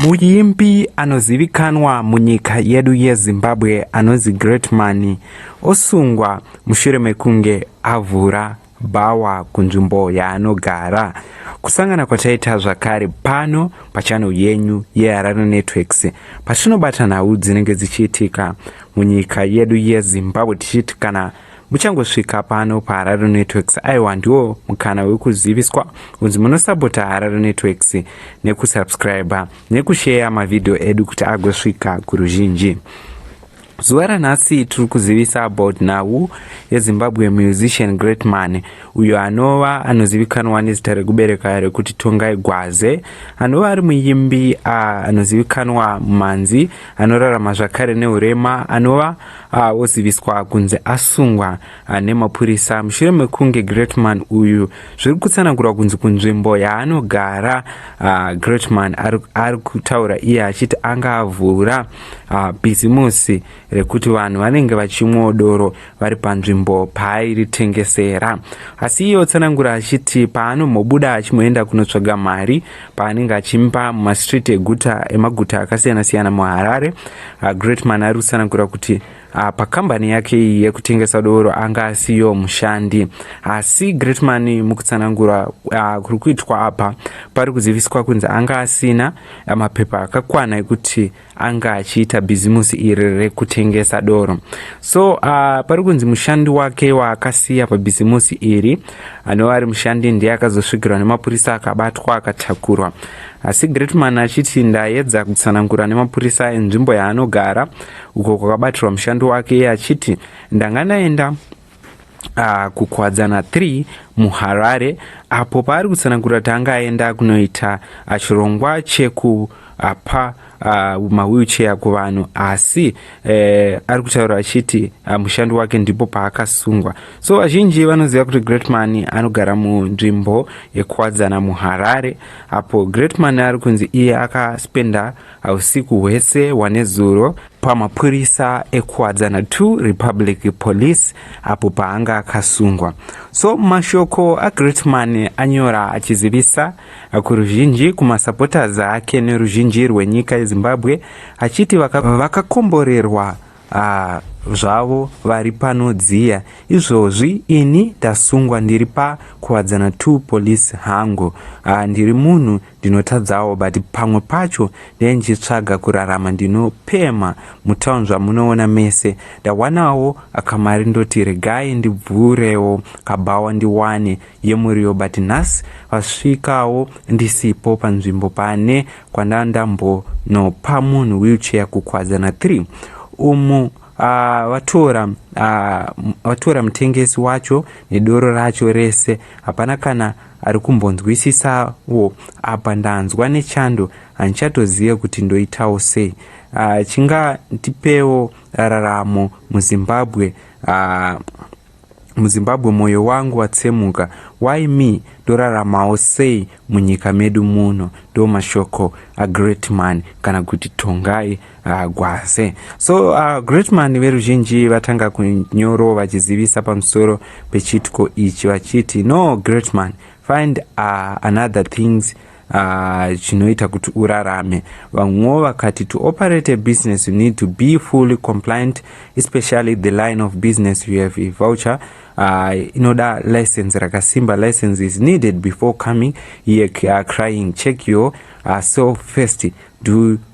Muimbi anozivikanwa munyika yedu yeZimbabwe anonzi Greatman osungwa mushure mekunge avhura bhawa kunzvimbo yaanogara. Kusangana kwataita zvakare pano pachannel yenyu yeHarare Networks patinobata nhau dzinenge dzichiitika munyika yedu yeZimbabwe tichiti kana Muchangosvika pano paHarare Networks aiwa ndiwo mukana wekuziviswa kunzi munosapota Harare Networks nekusubscriber nekusheya mavhidhiyo edu kuti agosvika kuruzhinji. Zuva ranhasi tiri kuzivisa about nhau yeZimbabwe musician Great Man uyo anova anozivikanwa nezita rekubereka rekuti Tongai Gwaze anova ari muimbi anozivikanwa mumanzi anorarama zvakare neurema anova Ah, oziviswa kunzi asungwa ah, nemapurisa mushure mekunge greatman uyu zviri kutsanangurwa kunzi kunzvimbo yaanogara ah, greatman ari kutaura iye achiti anga avhura bhizimusi rekuti vanhu vanenge vachimwawo doro vari panzvimbo paairitengesera asi iye otsanangura achiti paanombobuda achimboenda kunotsvaga mari paanenge achimba mumastreet eguta emaguta akasiyana siyana muharare uh, greatman ari kutsanangura kuti uh, pakambani yake iyi yekutengesa doro anga asiyo mushandi asi uh, greatman mukutsanangura uh, kuri kuitwa apa pari kuziviswa kunzi anga asina uh, mapepa akakwana ekuti uh, anga achiita bhizimusi iri rekutengesa doro so uh, pari kunzi mushandi wake waakasiya pabhizimusi iri anova ari mushandi ndiye akazosvigirwa nemapurisa akabatwa akatakurwa asi gretman achiti ndaedza kutsanangura nemapurisa enzvimbo yaanogara uko kwakabatirwa mushandi wake iye achiti ndanga ndaenda uh, kukwadzana 3 muharare apo paari kutsanangura kuti anga aenda kunoita uh, chirongwa chekupa uh, uh, mawheelchair kuvanhu asi uh, ari kutaura achiti uh, mushando wake ndipo paakasungwa so vazhinji vanoziva kuti greatman anogara munzvimbo yekukwadzana muharare apo greatman ari kunzi iye akaspenda Usiku hwese wanezuro pamapurisa eKuwadzana 2 Republic Police apo paanga akasungwa. So mashoko aGreatman anyora achizivisa kuruzhinji kumasupporters ake neruzhinji rwenyika yeZimbabwe achiti vakakomborerwa vaka Haa zvavo vari panodziya izvozvi ini ndasungwa ndiri pa kuwadzana to police hangu haa ndiri munhu ndinotadzawo but pamwe pacho ndee ndichitsvaga kurarama ndinopema mutown zvamunoona mese ndawanawo akamari ndoti regai ndibvurewo kabhawa ndiwane yemuriwo but nhasi vasvikawo ndisipo panzvimbo pane kwandandambonopa munhu wheelchair kukwadzana 3 umu Ah, vatora ah, vatora mutengesi wacho nedoro racho rese hapana kana ari kumbonzwisisawo apa ndanzwa nechando handichatozive kuti ndoitawo sei ah, chingandipewo raramo muzimbabwe muzimbabwe moyo wangu watsemuka why me ndoraramawo sei munyika medu muno ndomashoko agreatman kana kuti tongai uh, gwaze so uh, greatman veruzhinji vatanga kunyoro vachizivisa pamusoro pechitiko ichi vachiti no greatman find uh, another things uh, chinoita kuti urarame vamwewo vakati to operate a business you need to be fully compliant especially the line of business you have a voucher uh, inoda license rakasimba license is needed before coming here uh, crying check your uh, self first do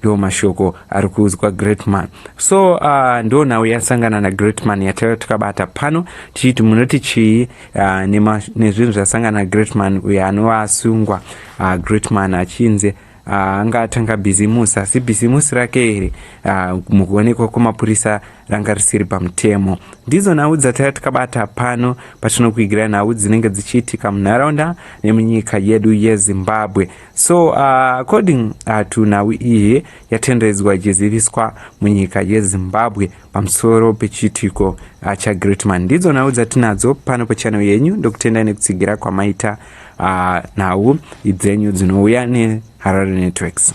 ndo mashoko ari kuudzwa greatman so uh, ndo nhau yasangana nagreatman yataiva takabata pano tichiti munoti chii uh, nezvinhu zvasangana nagreatman uyo anova asungwa uh, greatman achinzi uh, Ah, anga atanga bhizimusi asi bhizimusi rake here ah, mukuonekwa kwemapurisa ranga risiri pamutemo ndidzo nhau dzataiva tikabata pano patinokuigira nhau dzinenge dzichiitika munharaunda nemunyika yedu yezimbabwe So uh, according uh, to nhau iyi yatendedzwa ichiziviswa munyika yezimbabwe pamusoro pechiitiko uh, chagreatman ndidzo nhau dzatinadzo pano pachannel yenyu ndokutendai nekutsigira kwamaita uh, nhau idzenyu dzinouya neharare networks